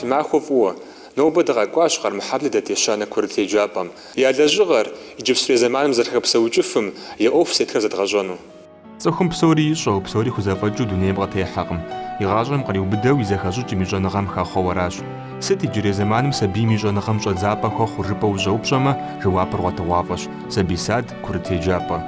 Фи махуэ фӏыуэ! Нобэ дыкъэкӏуащ Къармыхьэблэ дэт ещанэ курыт еджапӏэм я лэжьыгъэр, иджыпстурей зэманым зэрыхэпсэукӏыфым, я ӏуэху зытетхэр зэдгъэщӏэну. Цӏыхум псори ищӏэу, псори хузэфӏэкӏыу дунейм къытехьэкъым. И гъащӏэм къриубыдэу и зэхэщӏыкӏым и щӏэныгъэм хэхъуэу аращ. Сыт иджырей зэманым сабийм и щӏэныгъэм щӏэдзапӏэ хуэхъур жыпӏэу ущӏэупщӏэмэ, жэуапыр гъуэтыгъуафӏэщ, сабий сад, курыт еджапӏэ.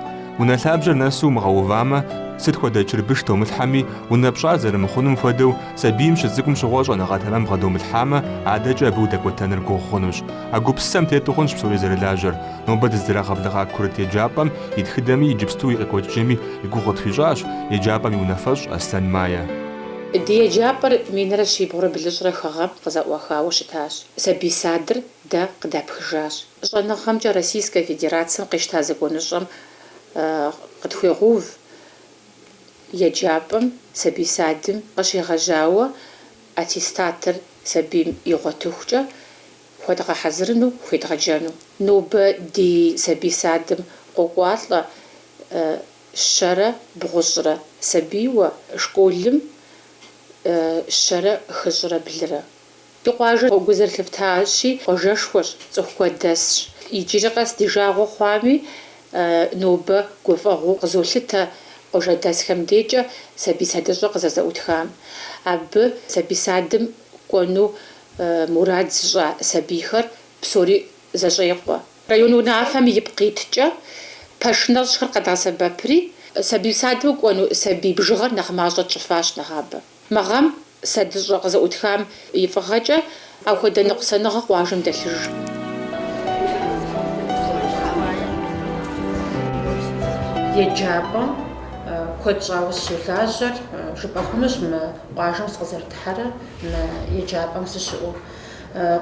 Унэ лъабжьэр нэсу умыгъэувамэ, сыт хуэдэ чырбыш домылъхьэми, унэ пщӏар зэрымыхъунум хуэдэу, сабийм щыцӏыкӏум щыгъуэ щӏэныгъэ тэмэм бгъэдомылъхьамэ, адэкӏэ абы удэкӏуэтэныр гугъу хъунущ. А гупсысэм тету хъунщ псори зэрылажьэр. Нобэ дыздырагъэблэгъа курыт еджапӏэм и тхыдэми иджыпсту и къекӏуэкӏыкӏэми и гугъу къытхуищӏащ еджапӏэм и унафэщӏ Аслъэн Майя. Ди еджапӏэр минрэ щибгъурэ блыщӏрэ хы гъэм къызэӏуахауэ щытащ. Сабий садыр дэ къыдапхыжащ. Щӏэныгъэмкӏэ Российскэ Федерацэм къищта законыщӏэм къытхуегъэув еджапӏэм сабий садым къыщегъэжьауэ аттестатыр сабийм игъуэтыхукӏэ хуэдгъэхьэзырыну хуедгъэджэну. Нобэ ди сабий садым къокӏуалӏэ щэрэ бгъущӏрэ сабийуэ, школым щэрэ хыщӏрэ блырэ. Ди къуажэр, гу зэрылъыфтащи, къуажэшхуэщ, цӏыху куэд дэсщ. Иджыри къэс ди жагъуэ хъуами, нобэ гуфӏэгъуэу къызолъытэ къуажэдэсхэм декӏэ сабий садыщӏэ къызэрызэӏутхам. Абы сабий садым кӏуэну мурад зыщӏа сабийхэр псори зэщӏекъуэ. Район унафэм ипкъ иткӏэ, пэш нэщӏхэр къэдгъэсэбэпри, сабий садым кӏуэну сабий бжыгъэр нэхъ мащӏэ тщӏыфащ нэгъабэ. Мы гъэм садыщӏэ къызэӏутхам и фӏыгъэкӏэ ахуэдэ ныкъусаныгъэ къуажэм дэлъыжкъым. Еджапӏэм куэд щӏауэ сыщолажьэр жыпӏэ хъунущ мы Къуажэм сыкъызэрыдыхьэрэ мы еджапӏэм сыщыӏэу.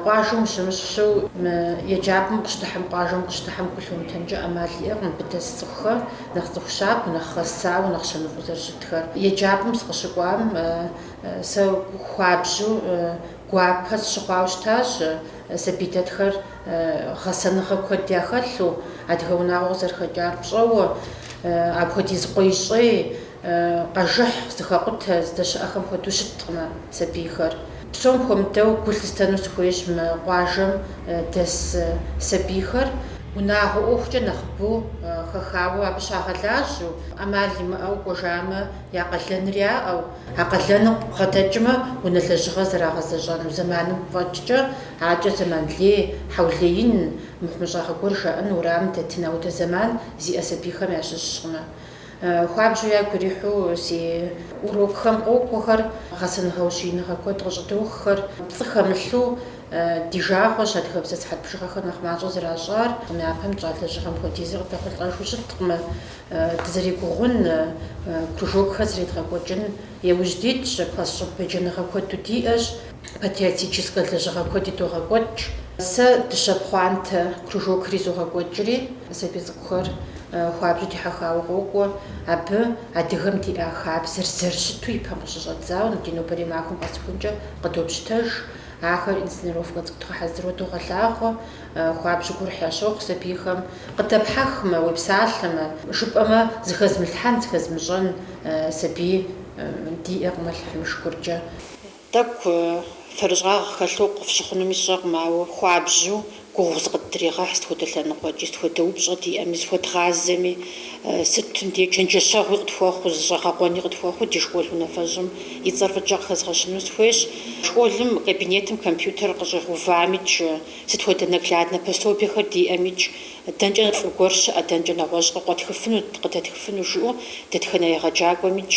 Къуажэм ущымыщыххэу, мы еджапӏэм укъыщыдыхьэм, къуажэм укъыщыдыхьэм гу лъумытэнкӏэ ӏэмал иӏэкъым абы дэс цӏыхухэр, нэхъ цӏыху щабэу, нэхъ гъэсауэ, нэхъ щэныфӏэу зэрыщытхэр. Еджапӏэм сыкъыщыкӏуам сэ хуабжьу, гуапэ сщыхъуауэ щытащ, сабий дэтхэр гъэсэныгъэ куэд яхэлъу, адыгэ унагъуэ къызэрыхэкӏар пщӏэуэ, апхуэдиз къуей-щӏей, Къэжыхь зыхэкъутэ, здэщыӏэхэм хуэдэу щыткъымэ сабийхэр. Псом хуэмыдэу гу лъыстэну сыхуейщ мы къуажэм дэс сабийхэр. Унагъуэ ӏуэхукӏэ нэхъыбэу хэхауэ абы щагъэлажьэу, ӏэмал имыӏэу кӏуэжамэ, я къалэныр яӏэу, а къалэным бгъэдэкӏмэ, унэ лэжьыгъэ зэрагъэзэщӏэну зэманым фӏэкӏкӏэ, акӏэ зэман лей, хьэулеин, мыхъумыщӏагъэ гуэр жаӏэн уэрамым дэтын аудэ зэман зиӏэ сабийхэм ящыщкъымэ. Хуабжьу ягу ирихьу си урокхэм къокӏуэхэр, гъэсэныгъэ-ущииныгъэ куэд къыщӏыдоххэр. Пцӏы хэмылъу ди жагъуэщ адыгэбзэ сыхьэт бжыгъэхэр нэхъ мащӏэу зэращӏар. Япэм тщӏа лэжьыгъэм хуэдизыр къыдэхъулӏэжу щыткъымэ. Дызэрегугъун, кружокхэр зэредгъэкӏуэкӏын иужь дитщ, класс щӏыб еджэныгъэ куэду диӏэщ. патриотическэ лэжьыгъэ куэди догъэкӏуэкӏ. Сэ дыщэ пхъуантэ кружокри зогъэкӏуэкӏри, сабий цӏыкӏухэр хуабжьу дихьэхауэ къокӏуэ. Абы адыгэм диӏа хабзэр зэрыщыту ипэм къыщыщӏэдзауэ ди нобэрей махуэм къэсыхункӏэ къыдопщытэж. Ахэр инсценировкэ цӏыкӏу дгъэхьэзыру догъэлъагъуэ. Хуабжьу гурыхь ящохъу сабийхэм. Къыдэпхьэхмэ, уепсалъэмэ, жыпӏэмэ, зыхэзмылъхьэн, зыхэзмыщӏэн сабий диӏэкъым Алыхьым и шыкуркӏэ. Тӏэкӏу фэрыщӏагъ хэлъу къыфщыхъунуми сщӏэкъым, ауэ хуабжьу гугъу зыкъыддрегъэхь сыт хуэдэ лъэныкъуэкӏи, сыт хуэдэ упщӏэ диӏэми, зыхуэдгъазэми, сытым де чэнджэщэгъуи къытхуэхъуу, зыщӏэгъэкъуэни къытхуэхъуу ди школ унафэщӏым и цӏэр фӏыкӏэ къыхэзгъэщыну сыхуейщ. Школым кабинетым компьютер къыщӏигъэувамикӏ, сыт хуэдэ нагляднэ пособиехэр диӏэмикӏ, дэнкӏэ фӏы гуэр щыӏэ, дэнкӏэ нэгъуэщӏ къыкъуэтхыфыну, къыдэтхыфыну жиӏэу дэтхэнэ егъэджакӏуэмикӏ,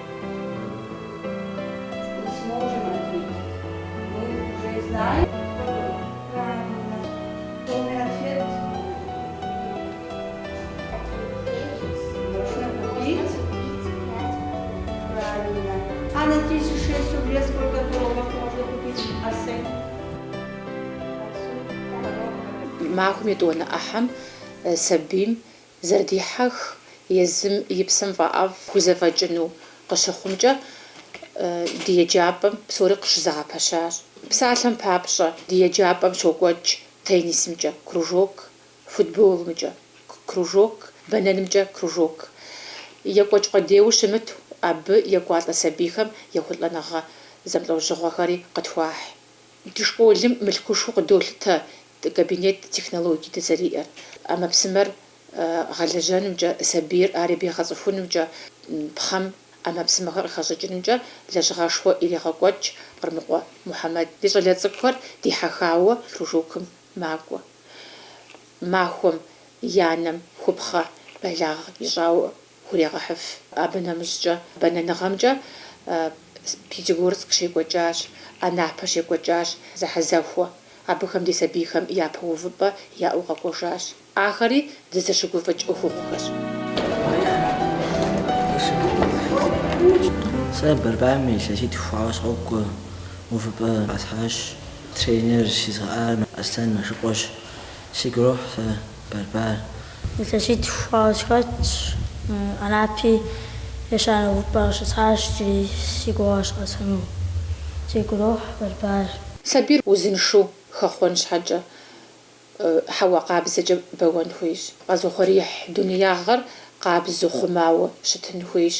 Махуэм етӏуанэ ӏыхьэм сабийм Зэрыдихьэх езым и псэм фӏэӏэфӏ хузэфӏэкӏыну къыщыхъумкӏэ ди еджапӏэм псори къыщызэгъэпэщащ. Псалъэм папщӏэ, ди еджапӏэм щокӏуэкӏ теннисымкӏэ кружок, футболымкӏэ кружок, бэнэнымкӏэ кружок. Екӏуэкӏ къудейуэ щымыту, абы екӏуалӏэ сабийхэм ехъулӏэныгъэ зэмылӏэужьыгъуэхэри къытхуахь. Ди школым мылъкушхуэу къыдолъытэ кабинет технологие дызэриӏэр, ӏэмэпсымэр гъэлэжьэнымкӏэ, сабийр ар ебгъэцӏыхунымкӏэ, пхъэм ӏэмэпсымэхэр къыхэщӏыкӏынымкӏэ лэжьыгъэшхуэ ирегъэкӏуэкӏ Къырмыкъуэ Мухьэмэд. Ди щӏалэ цӏыкӏухэр дихьэхауэ кружокым макӏуэ. Махуэм и анэм хупхъэ бэлагъ ищӏауэ хурегъэхьыф. Абы нэмыщӏкӏэ бэнэныгъэмкӏэ Пятигорск щекӏуэкӏащ, Анапэ щекӏуэкӏащ зэхьэзэхуэ. Абыхэм ди сабийхэм япэ увыпӏэ яӏэу къэкӏуэжащ. Ахэри дызэщыгуфӏыкӏ ӏуэхугъуэхэщ. Сэ борьбам илъэситху хъуауэ сыкъокӏуэ, увыпӏэ къэсхьащ. Тренер сизыгъэӏар Аслъэн Мэшыкъуэщ. Сигу ирохь сэ. Борьбар. Илъэситӏ хъуауэ сыхэтщ, Анапи ещанэ увыпӏэ къыщысхьащ джыри си гугъэщ къэсхьыну. Сигу ирохь борьбар. Сабийр узыншэу хэхъуэн щхьэкӏэ, хьэуа къабзэкӏэ бэуэн хуейщ. Къэзыухъуреихь дунеягъэр къабзэу, хъумауэ щытын хуейщ.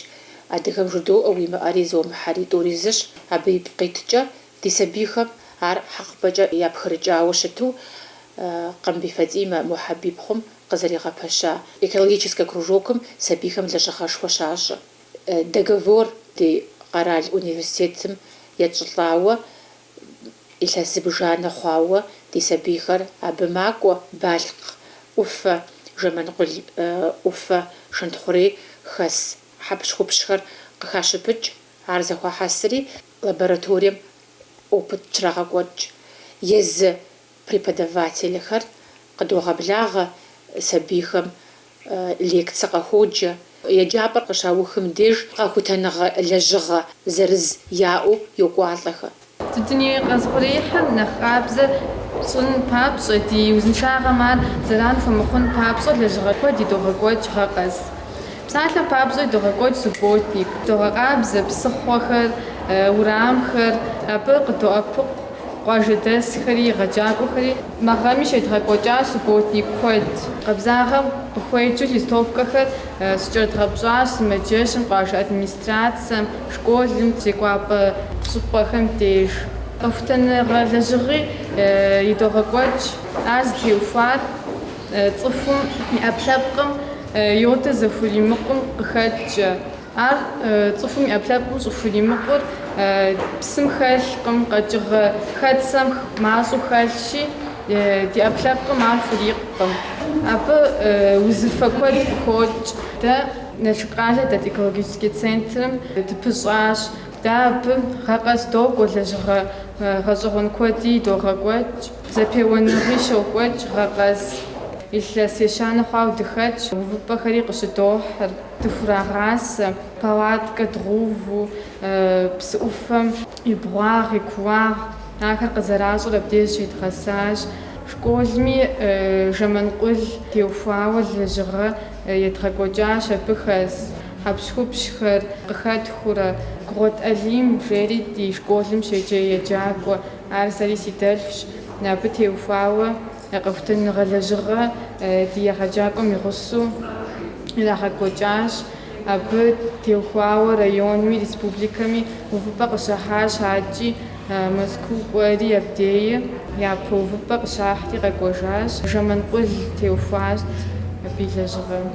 Адыгэм жыдоӏэ, уимыӏэри зомыхьэри, тӏури зыщ, абы ипкъ иткӏэ Ди сабийхэм ар хьэкъыпӏэкӏэ япхырыкӏауэ щыту Къамбий Фатимэ Мухьэб ипхъум къызэригъэпэща экологическэ кружокым сабийхэм лэжьыгъэшхуэ щащӏэ, договор ди къэрал университетым етщӏылӏауэ, илъэс зыбжанэ хъуауэ ди сабийхэр абы макӏуэ, Балъкъ ӏуфэ, Жэманкъул ӏуфэ, Шэнтхъурей хэс хьэпщхупщхэр къыхащыпыкӏ, ар зэхуахьэсри, Лабораторием опыт щрагъэкӏуэкӏ езы преподавателхэр къыдогъэблагъэ, сабийхэм лекцэ къахуоджэ. Еджапӏэр къыщаухым деж къэхутэныгъэ лэжьыгъэ зырыз яӏэу йокӏуалӏэхэ. Дуней къэзыухъуреихьыр нэхъ къабзэ щӏын папщӏэ, ди узыншагъэм ар зэран хуэмыхъун папщӏэ лэжьыгъэ куэд идогъэкӏуэкӏ гъэ къэс. Псалъэм папщӏэ идогъэкӏуэкӏ субботник, догъэкъабзэ псыхъуэхэр, урамхэр, абы къыддоӏэпыкъу къуажэдэсхэри, егъэджакӏуэхэри. Мы гъэми щедгъэкӏуэкӏащ субботник куэд. Къабзагъэм къыхуеджэу листовкэхэр щыкӏэрыдгъэпщӏащ сымаджэщым, къуажэ администрацэм, школым, зекӏуапӏэ щӏыпӏэхэм деж. Къэхутэныгъэ лэжьыгъи идогъэкӏуэкӏ, ар зытеухуар. Цӏыхум и ӏэпкълъэпкъым йодыр зэхуримыкъум къыхэкӏкӏэ. Ар, цӏыхум и ӏэпкълъэпкъым щӏыхуримыкъур, псым хэлъкъым, къэкӏыгъэ хэтсэм мащӏэу хэлъщи, ди ӏэпкълъэпкъым ар хурикъкъым. Абы узыфэ куэд къыхокӏ. Дэ Налшык къалэ дэт экологический центрым дыпыщӏащ. Дэ абы гъэ къэс докӏуэ, лэжьыгъэ гъэщӏэгъуэн куэд идогъэкӏуэкӏ. Зэпеуэныгъи щокӏуэкӏ гъэ къэс. Илъэс ещанэ хъуауэ дыхэтщ, увыпӏэхэри къыщыдохьыр, дыхурагъасэ, палаткэ дгъэуву, псы ӏуфэм и бгъуагъ, и кууагъ, ахэр къызэращӏэр абдеж зыщедгъэсащ. Школми Жэманкъул теухуауэ лэжьыгъэ едгъэкӏуэкӏащ абы хэс хьэпщхупщхэр къыхэтхыурэ, Гугъуэт Алим жери ди школым щеджэ еджакӏуэ. Ар сэри си дэлъщ, абы теухуауэ къэхутэныгъэ лэжьыгъэ ди егъэджакӏуэм и гъусэу ирагъэкӏуэкӏащ. Абы теухуауэ районми республикэми увыпӏэ къыщахьащ икӏи Мэзкуу кӏуэри абдеи япэ увыпӏэ къыщахьри къэкӏуэжащ. Жэманкъул теухуащ абы и лэжьыгъэм.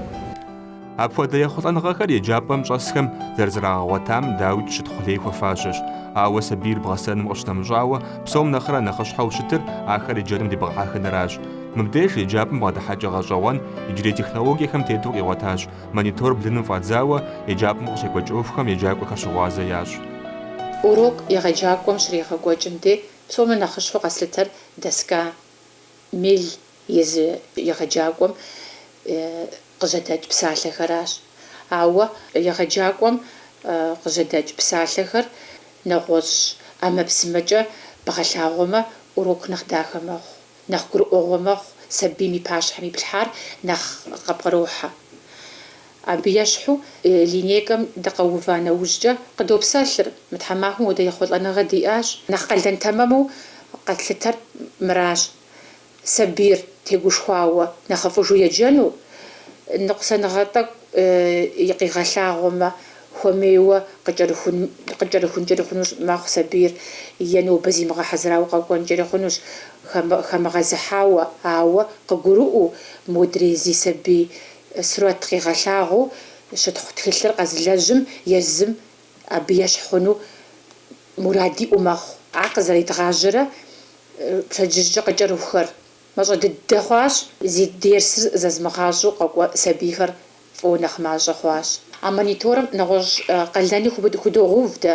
Апхуэдэ ехъулӏэныгъэхэр еджапӏэм щӏэсхэм зэрызэрагъэгъуэтам, дауикӏ, щытхъу лей хуэфащэщ. Ауэ сабийр бгъэсэным къыщынэмыщӏауэ, псом нэхърэ нэхъыщхьэу щытыр ахэр еджэным дебгъэхьэхыныращ. Мыбдеж еджапӏэм бгъэдыхьэкӏэ гъэщӏэгъуэн иджырей технологиехэм тету къигъуэтащ, монитор блыным фӏадзауэ, еджапӏэм къыщекӏуэкӏ ӏуэхухэм еджакӏуэхэр щыгъуазэ ящӏ. Урок егъэджакӏуэм щригъэкӏуэкӏым де псом нэхъыщхьэу къэслъытэр доска, мел Езы егъэджакӏуэм къыжьэдэкӏ псалъэхэращ. Ауэ егъэджакӏуэм къыжьэдэкӏ псалъэхэр нэгъуэщӏ ӏэмэпсымэкӏэ бгъэлъагъуэмэ, урок нэхъ дахэ мэхъу, нэхъ гурыӏуэгъуэ мэхъу, сабийм и пащхьэм иплъхьар нэхъ къыпкърохьэ. Абы ещхьу, линейкэм дыкъэува нэужькӏэ, къыдопсэлъыр, мы тхьэмахуэм хуэдэ ехъулӏэныгъэ диӏащ, нэхъ къалэн тэмэму къэтлъытэр мыращ. сабийр тегушхуауэ нэхъыфӏыжу еджэну, ныкъусаныгъэ тӏэкӏу къигъэлъагъуэмэ, хуэмейуэ къыкӏэрыхункӏэри хъунущ, мэхъу сабийр е нобэ зимыгъэхьэзырауэ къэкӏуэнкӏэри хъунущ, хэмыгъэзыхьауэ, ауэ къыгурыӏуэу, модрей зи сабий сурэт къигъэлъагъуу щытхъу тхылъыр къэзылэжьым езым абы ещхь хъуну мурад иӏэу мэхъу. Ар къызэредгъажьэрэ пщэдджыжькӏэ къыкӏэрыхухэр мащӏэ дыдэ хъуащ, зи дерсыр зэзмыгъащӏэу къакӏуэ сабийхэр фӏыуэ нэхъ мащӏэ хъуащ. А мониторым нэгъуэщӏ къалэни худогъэув дэ.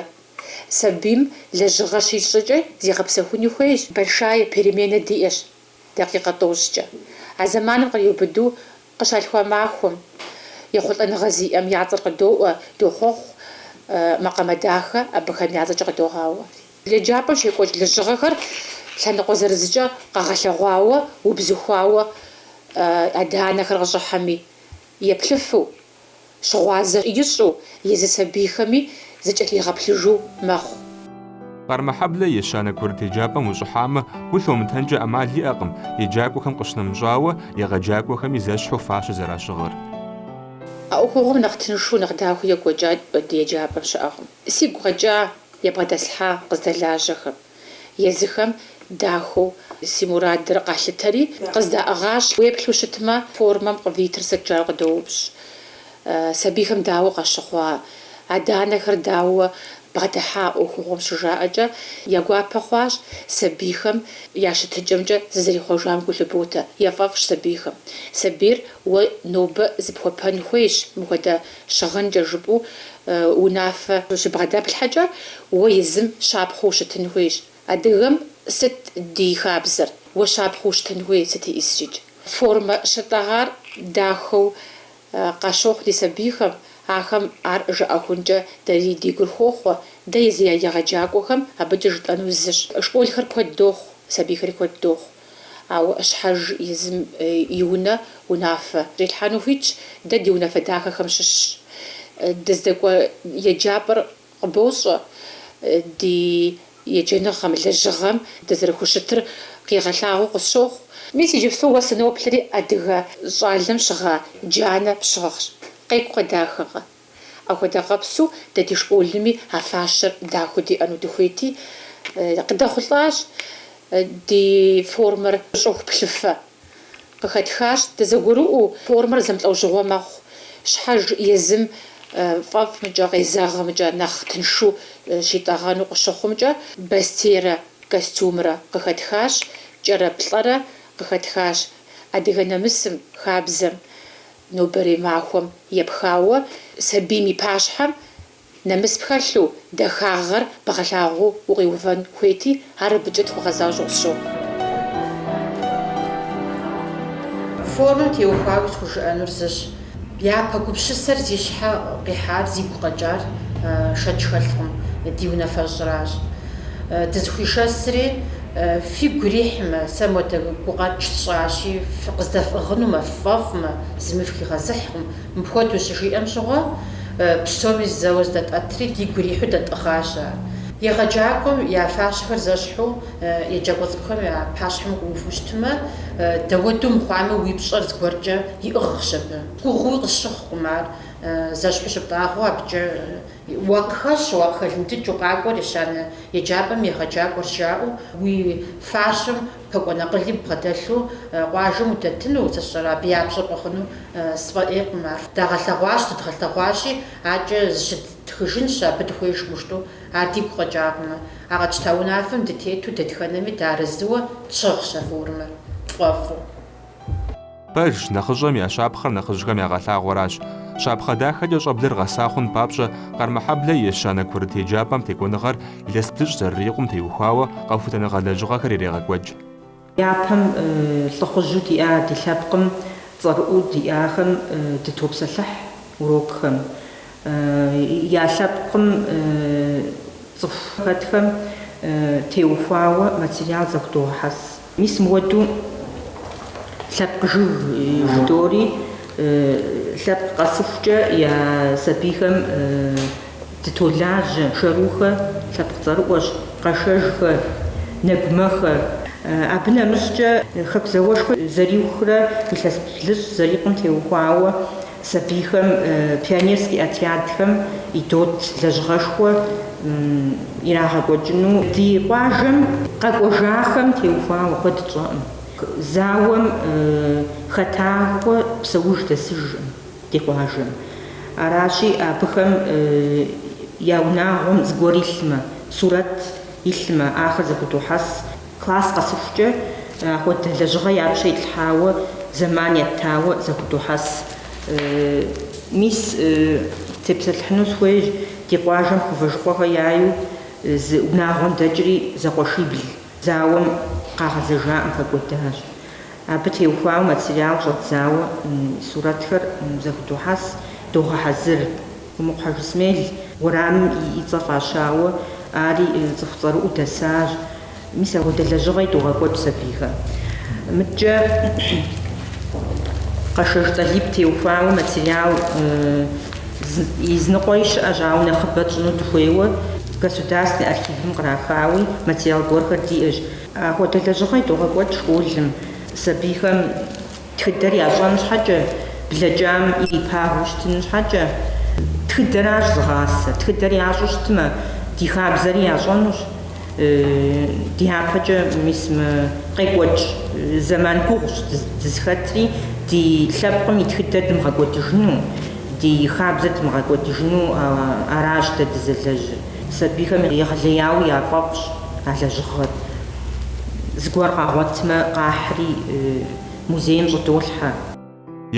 Сабийм лэжьыгъэ щищӏкӏэ зигъэпсэхуни хуейщ. Большая перемена диӏэщ дакъикъэ тӏощӏкӏэ. А зэманым къриубыду къыщалъхуа махуэм, ехъулӏэныгъэ зиӏэм я цӏэр къыдоӏуэ, дохъуэхъу, макъамэ дахэ абыхэм я цӏэкӏэ къыдогъауэ. Еджапӏэм щекӏуэкӏ лэжьыгъэхэр лъэныкъуэ зырызкӏэ къэгъэлъэгъуауэ, убзыхуауэ адэ-анэхэр къыщӏыхьэми, еплъыфу, щыгъуазэ ищӏу езы сабийхэми зэкӏэлъигъэплъыжу мэхъу. Къармэхьэблэ ещанэ курыт еджапӏэм ущӏыхьамэ, гу лъумытэнкӏэ ӏэмал иӏэкъым, еджакӏуэхэм къыщынэмыщӏауэ, егъэджакӏуэхэми зэщхьу фащэ зэращыгъыр. А ӏуэхугъуэм нэхъ тыншу, нэхъ дахэу екӏуэкӏа ди еджапӏэм щыӏэкъым. Сигу къэкӏа, ябгъэдэслъхьа къыздэлажьэхэм. Езыхэм дахэу си мурадыр къалъытэри, къыздаӏыгъащ. Уеплъу щытмэ, формэм къывитыр сыт жаӏэу къыдоупщӏ. Сабийхэм дауэ къащыхъуа, адэ-анэхэр дауэ бгъэдыхьа ӏуэхугъуэм щыжаӏэкӏэ, я гуапэ хъуащ сабийхэм я щытыкӏэмкӏэ зызэрихъуэжам гу лъыботэ. Яфӏэфӏщ сабийхэм. Сабийр уэ нобэ зыпхуэпэн хуейщ мыхуэдэ. Щыгъынкӏэ жыпӏэу унафэ щыбгъэдэплъхьэкӏэ уэ езым щапхъэу ущытын хуейщ. Адыгэм сыт ди хабзэр? Уэ щапхъэу ущытын хуей сыт ищӏыскӏи. Формэ щытӏэгъар дахэу къащохъу ди сабийхэм, ахэм ар жаӏэхункӏэ дэри ди гур хохъуэ, дэ езы я егъэджакӏуэхэм абыкӏэ жытӏэнур зыщ. Школхэр куэд дохъу, сабийхэри куэд дохъу. Ауэ щхьэж езым и унэ унафэ ирилъхьэну хуитщ, дэ ди унафэ дахэхэм щыщщ. Дыздэкӏуэ еджапӏэр къыбощӏэ ди еджэныгъэм, лэжьыгъэм дызэрыхущытыр къигъэлъагъуэу къысщохъу. Мис иджыпсту уэ сыноплъри адыгэ щӏалэм щыгъа джанэ пщыгъщ. Къекӏукъэ, дахэкъэ? Апхуэдэ къабзэу дэ ди школми а фащэр дахэу диӏэну дыхуейти, къыдэхъулӏащ. Ди формэр щӏыху плъыфэ къыхэтхащ. Дызэгурыӏуэу формэр зэмылӏэужьыгъуэ мэхъу. Щхьэж езым фӏэфӏымкӏэ, къезэгъымкӏэ, нэхъ тыншу щитӏэгъэну къыщыхъумкӏэ бостейрэ костюмрэ къыхэтхащ, кӏэрэ плӏэрэ къыхэтхащ. Адыгэ нэмысым, хабзэм Нобэрей махуэм епхауэ сабийм и пащхьэм нэмыс пхэлъу, дахагъэр бгъэлъагъуу укъиувэн хуейти, ар абыкӏэ тхуэгъэзащӏэу къысщохъу. Формэм теухуауи схужыӏэнур зыщ, япэ гупщысэр зи щхьэ къихьар, зигу къэкӏар шэч хэлъкъым, ди унафэщӏращ. Дызэхуишэсри, фигу ирихьмэ, сэ мыхуэдэ гукъэкӏ сщӏащи, къыздэфӏыгъынумэ, ффӏэфӏмэ, зыми фыхигъэзыхькъым. Мыпхуэдэу щыжиӏэм щыгъуэ, псоми зэуэ здэтӏэтри, дигу ирихьу дэтӏыгъащ ар. Егъэджакӏуэм я фащэхэр зэщхьу, еджакӏуэ цӏыкӏухэм я пащхьэм укъыуву щытмэ, дауэдэу мыхъуами, уи пщӏэр зыгуэркӏэ иӏыгъщ абы. Гугъууи къысщыхъукъым ар, зэщхьу щыптӏагъэу абыкӏэ Уакъыхэщу, уакъыхэлындыкӏыу, къакӏуэр ещанэ еджапӏэм егъэджакӏуэрщ жаӏэу, уи фащэм пэкӏуэн акъыли бгъэдэлъу къуажэм удэтыну, сэ сщӏэрэ, абы я пщӏэ фӏэхъуну сфӏэӏейкъым ар. Дагъэлъэгъуащ, дыдгъэлъэгъуащи, акӏэ зыщытхыжынщ, абы дыхуеижӏым жытӏу, ар дигу къэкӏакъымэ. А къэтщта унафэм дытету дэтхэнэми дыарэзыуэ тщыгъщ а формэр, тфӏэфӏу. Пэжщ, нэхъыщӏэм я щапхъэр нэхъыжьхэм ягъэлъагъуэращ. Щапхъэ дахэкӏэ щӏэблэр гъэса хъун папщӏэ, Къармэхьэблэ и ещанэ курыт еджапӏэм текӏуэныгъэр илъэс блыщӏ зэрырикъум теухуауэ къэхутэныгъэ лэжьыгъэхэр ирегъэкӏуэкӏ. Япэм лӏыхъужьу диӏа ди лъэпкъым цӏэрыӏуу диӏахэм дытопсэлъыхь урокхэм. Я лъэпкъым цӏыху хэтхэм теухуауэ материал зэхудогъэхьэс. Мис мыуэду лъэпкъ жыг жыдоӏэри, лъэпкъ къэсыхукӏэ я сабийхэм дытолажьэ. Шэрухэ лъэпкъ цӏэрыӏуэщ, Къэшэжхэ, Нэгумэхэ. Абы нэмыщӏкӏэ, Хэку зауэшхуэ зэриухрэ илъэс блыщӏ зэрикъум теухуауэ Сабийхэм пионерский отрядхэм едот лэжьыгъэшхуэ ирагъэкӏуэкӏыну ди къуажэм къэкӏуэжахэм теухуауэ куэд тщӏэӏым. Зауэм хэтахуэ псэуж дэсыжкъым ди къуажэм. Аращи, абыхэм я унагъуэм зыгуэр илъмэ, сурэт илъмэ, ахэр зэхудохьэс. Класс къэсыхукӏэ ахуэдэ лэжьыгъэ я пщэ итлъхьауэ зэман еттауэ зэхудохьэс. Мис, тепсэлъыхьыну схуейщ, ди къуажэм Хъувэжыкъуэхэ яйу зы унагъуэм дэкӏри зэкъуэшибл зауэм къагъэзэжаӏым, хэкӏуэдащ. Абы теухуауэ материал щӏэдзауэ сурэтхэр зэхудохьэс, догъэхьэзыр. Умыкъу Хьэжысмел уэрамым и цӏэ фӏащауэ, ари цӏыху цӏэрыӏуу дэсащ. Мис апхуэдэ лэжьыгъэи догъэкӏуэкӏ сабийхэм. Мыдкӏэ Къэшэж Тӏалиб теухуауэ материал изныкъуэи щыӏэщ, ауэ нэхъыбэ тщӏыну дыхуейуэ Государственный архивым кърахауи материал гуэрхэр диӏэщ. Апхуэдэ лэжьыгъэи догъэкӏуэкӏ школым сабийхэм Тхыдэр ящӏэн щхьэкӏэ, блэкӏам ирипагэу щытын щхьэкӏэ, тхыдэращ зыгъасэ. Тхыдэр ящӏу щытмэ, ди хабзэри ящӏэнущ. Дяпэкӏэ, мис мы къекӏуэкӏ зэман гугъущ дызыхэтри, ди лъэпкъым и тхыдэр дымыгъэкӏуэдыжыну, ди хабзэр дымыгъэкӏуэдыжыну аращ дэ дызэлэжьыр. Сабийхэм егъэлеяуэ яфӏэфӏщ а лэжьыгъэр. Зыгуэр къагъуэтмэ, къахьри музейм щӏыдолъхьэ.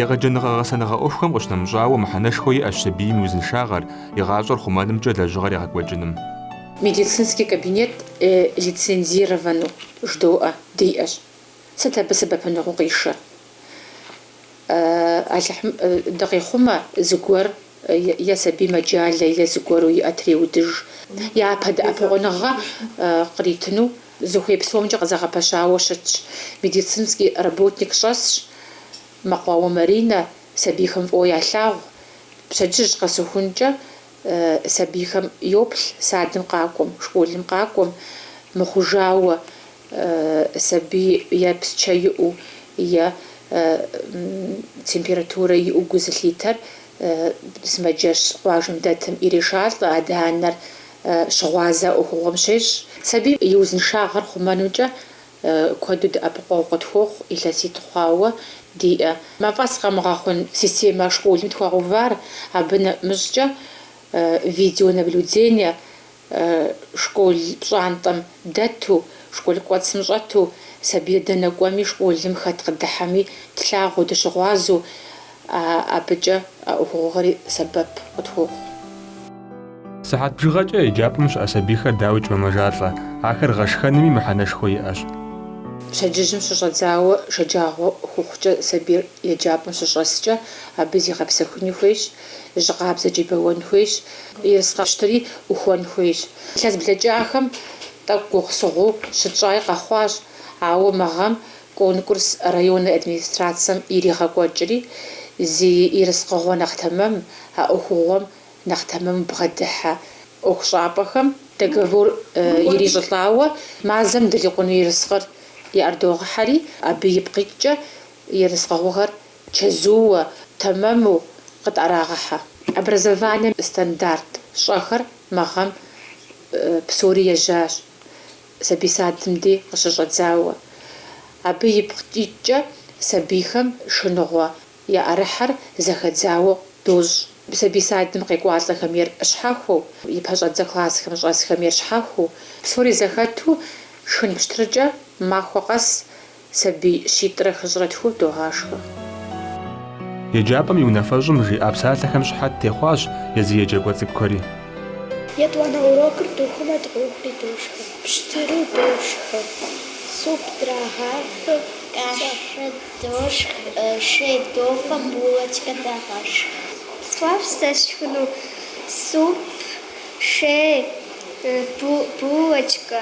Егъэджэныгъэ-гъэсэныгъэ ӏуэхухэм къыщынэмыщӏауэ мыхьэнэшхуэ иӏэщ сабийм и узыншагъэр, и гъащӏэр хъумэнымкӏэ лэжьыгъэр егъэкӏуэкӏыным. Медицинский кабинет лицензированэу ждоӏэ диӏэщ. Сыт абы сэбэпыныгъэу къишэр? Алыхьым дыкъихъумэ, зыгуэр е сабий мэджалэ е зыгуэру и ӏэ треудыж. Япэ дэӏэпыкъуныгъэ къритыну зыхуей псомкӏэ къызэгъэпэщауэ щытщ. Медицинский работник щӏэсщ, Мэкъуауэ Маринэ сабийхэм фӏыуэ ялъагъу. Пщэдджыжь къэсыхункӏэ сабийхэм йоплъ садым къакӏуэм, школым къакӏуэм. Мыхъужауэ, сабий е псчэ иӏэу е температурэ иӏэу гу зылъитэр сымаджэщ къуажэм дэтым ирешалӏэ, адэ-анэр щыгъуазэ ӏуэхугъуэм щещӏ. Сабийм и узыншагъэр хъумэнымкӏэ куэду дэӏэпыкъуэгъу къытхуохъу илъэситӏ хъуауэ диӏэ мафӏэс къэмыгъэхъун системэ школым тхуагъэувар, абы нэмыщӏкӏэ видеонаблюдение школ пщӏантӏэм дэту, школ кӏуэцым щӏэту, сабийр дэнэ кӏуэми, школым хэт къыдыхьэми тлъагъуу, дыщыгъуазэу, абыкӏэ а ӏуэхугъуэхэри сэбэп къытхуохъу. Сыхьэт бжыгъэкӏэ еджапӏэм щыӏэ сабийхэр дауикӏ мэмэжалӏэ, ахэр гъэшхэнми мыхьэнэшхуэ иӏэщ. Пщэдджыжьым щыщӏэдзауэ шэджагъуэ хухъукӏэ сабийр еджапӏэм щыщӏэскӏэ, абы зигъэпсэхуни хуейщ, Жьы къабзэкӏи бэуэн хуейщ. Ерыскъы пщтыри ӏухуэн хуейщ. Илъэс блэкӏахэм тӏэкӏу гугъусыгъуу щытщӏаи къэхъуащ, ауэ мы гъэм конкурс районнэ администрацэм иригъэкӏуэкӏри, зи ерыскъыгъуэ нэхъ тэмэм, а ӏуэхугъуэм нэхъ тэмэму бгъэдыхьэ ӏуэхущӏапӏэхэм, договор ирищӏылӏауэ, мазэм дрикъуну ерыскъыр яӏэрыдогъэхьэри, абы ипкъ иткӏэ ерыскъыгъуэхэр чэзууэ, тэмэму къытӏэрагъэхьэ. Образованием стандарт щӏэхэр мы гъэм псори ежьащ, сабий садым дей къыщыщӏэдзауэ. Абы ипкъ иткӏэ сабийхэм шхыныгъуэ яӏэрыхьэр зэхэдзауэ дощӏ. Сабий садым къекӏуалӏэхэм ейр щхьэхуэу, и пэщӏэдзэ классхэм щӏэсхэм ейр щхьэхуэу, псори зэхэту шхын пщтыркӏэ махуэ къэс Сабий щитӏрэ хыщӏрэ тху догъашхэ. Еджапӏэм и унафэщӏым жиӏа псалъэхэм щыхьэт техъуащ езы еджакӏуэ цӏыкӏухэри. Етӏуанэ урокыр духмэ дохри дошхэ. Пщтыру дошхэ, суп драгъафэ, кашэ дошх, шей дофэ, булочкэ дагъэшх. Сфӏэфӏщ сэ сшхыну суп, шей, булочкэ.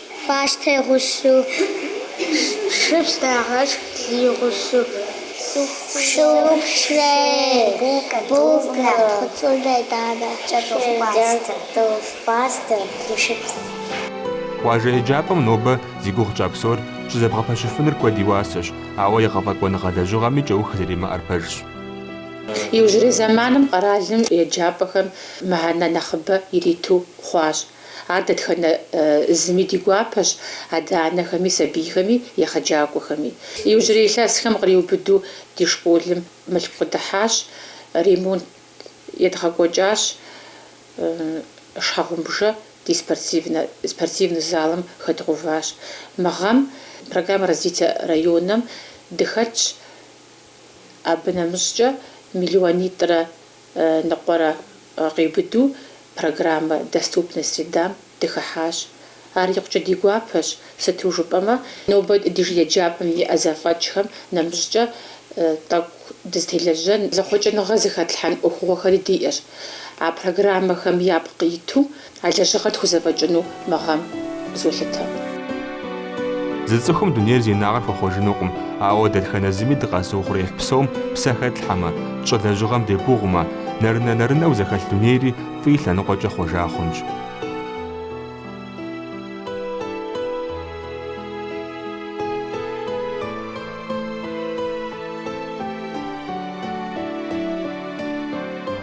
Пӏастэ и гъусу шыпс дагъэшх, лы и гъусу. Суп, шей, булкэ нэтхъуцӏурэ данэ кӏэртӏоф, пӏастэ, шыпс. Къуажэ еджапӏэм нобэ зи гугъу тщӏа псор щызэбгъэпэщыфыныр куэд и уасэщ, ауэ егъэфӏэкӏуэныгъэ лэжьыгъэми кӏэух зэримыӏэр пэжщ. Иужьрей зэманым къэралым еджапӏэхэм мыхьэнэ нэхъыбэ ириту хъуащ. Ар дэтхэнэ зыми ди гуапэщ, адэ-анэхэми, сабийхэми, егъэджакӏуэхэми. Иужьрей илъэсхэм къриубыду ди школым мылъку къыдыхьащ, ремонт едгъэкӏуэкӏащ, шхьэгъумбжэ ди спортивнэ залым хэдгъэуващ. Мы гъэм программэ развития районым дыхэтщ, абы нэмыщӏкӏэ миллионитӏрэ ныкъуэрэ къиубыду программэ Доступная средам дыхыхьащ. Ар икъукӏэ ди гуапэщ, сыту жыпӏэмэ, нобэ ди еджапӏэм иӏэ зэфӏэкӏхэм нэмыщӏкӏэ тӏэкӏу дызытелэжьэн, зэхъуэкӏыныгъэ зыхэтлъхьэн ӏуэхугъуэхэри диӏэщ а программэхэм япкъ иту. А лэжьыгъэр тхузэфӏэкӏыну мы гъэм золъытэ. Зы цӏыхум дунейр зи инагъыр хуэхъуэжынукъым, ауэ дэтхэнэ зыми дыкъэзыухъуреихь псом псэ хэтлъхьэмэ, тщӏэ лэжьыгъэм дегугъумэ, нэрынэ-нэрынэу зэхэлъ дунейри фӏы и лъэныкъуэкӏэ хъуэжа хъунщ.